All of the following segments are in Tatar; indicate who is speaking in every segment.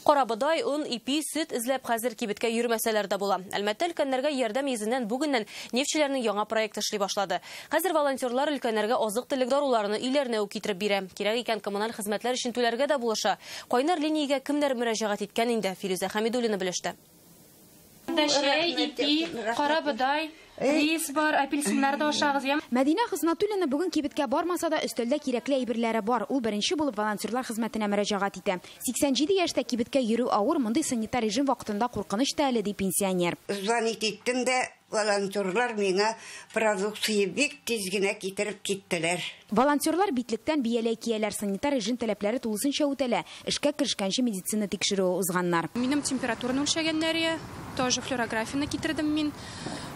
Speaker 1: Карабодай, он, ипи, сөт эзләп хәзер кибеткә йөрмәсәләр дә була. Әлмәттә өлкәннәргә ярдәм йөзеннән бүгеннән нефтьчеләрнең яңа проекты эшли башлады. Хәзер волонтерлар өлкәннәргә азык-төлек даруларны өйләренә үк китереп бирә. Кирәк икән, коммуналь хезмәтләр өчен түләргә дә булыша. Кайнар линиягә кемнәр мөрәҗәгать иткән инде, Филүзә Хәмидуллина белеште.
Speaker 2: Дәшәй, ипи, карабыдай, рис бар, апельсиннар да ашагыз, я. Мәдинә Хыснатуллина
Speaker 3: бүген кибеткә бармаса да, өстәлдә кирәкле әйберләре бар. Ул беренче булып волонтерлар хезмәтенә мөрәҗәгать итә. 87 яшьтә кибеткә йөрү авыр, мондый санитар режим вакытында куркыныч та әле, ди пенсионер. Звонить иттем
Speaker 4: дә, Волонтерлар миңа продукция бик тиз генә китереп киттеләр. Волонтерлар
Speaker 3: битлектән бияләй кияләр, санитар режим таләпләре тулысынча үтәлә, эшкә керешкәнче медицина тикшерүе узганнар. Минем температураны
Speaker 2: үлчәгәннәре, тоже флюорографияне китердем мин.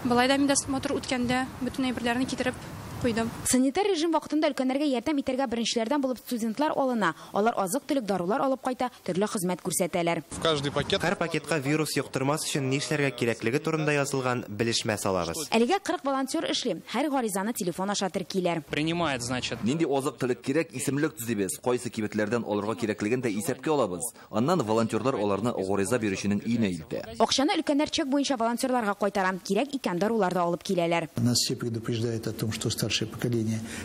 Speaker 2: Болай да медосмотр үткәндә бөтен әйберләрне китереп куйдым. Санитар режим
Speaker 3: вакытында өлкәннәргә ярдәм итәргә беренчеләрдән булып студентлар алына. Алар азык-төлек, дарулар алып кайта, төрле хезмәт күрсәтәләр. Һәр пакетка
Speaker 5: вирус йоктырмас өчен нишләргә кирәклеге турында язылган белешмә салабыз. Әлегә 40 волонтер
Speaker 3: эшли. Һәр гаризаны телефон аша теркиләр.
Speaker 6: Нинди азык-төлек кирәк,
Speaker 7: исемлек төзибез, кайсы кибетләрдән алырга кирәклеген дә исәпкә алабыз. Аннан волонтерлар аларны гариза бирүченең өенә илтә. Акчаны өлкәннәр чек
Speaker 3: буенча волонтерларга кайтара. Кирәк икән, дарулар да алып киләләр.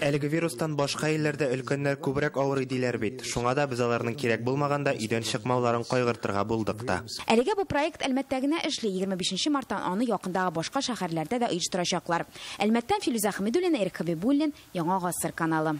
Speaker 8: Әлеге вирустан
Speaker 5: башка илләрдә өлкәннәр күбрәк авырый диләр бит, шуңа да без аларның кирәк булмаганда өйдән чыкмауларын кайгыртырга булдык та. Әлегә бу проект
Speaker 3: Әлмәттә генә эшли, егерме бишенче марттан аны якындагы башка шәһәрләрдә дә оештырачаклар. Әлмәттән Филүзә Хәмидуллина, Ирек Хәбибуллин, Яңа гасыр каналы.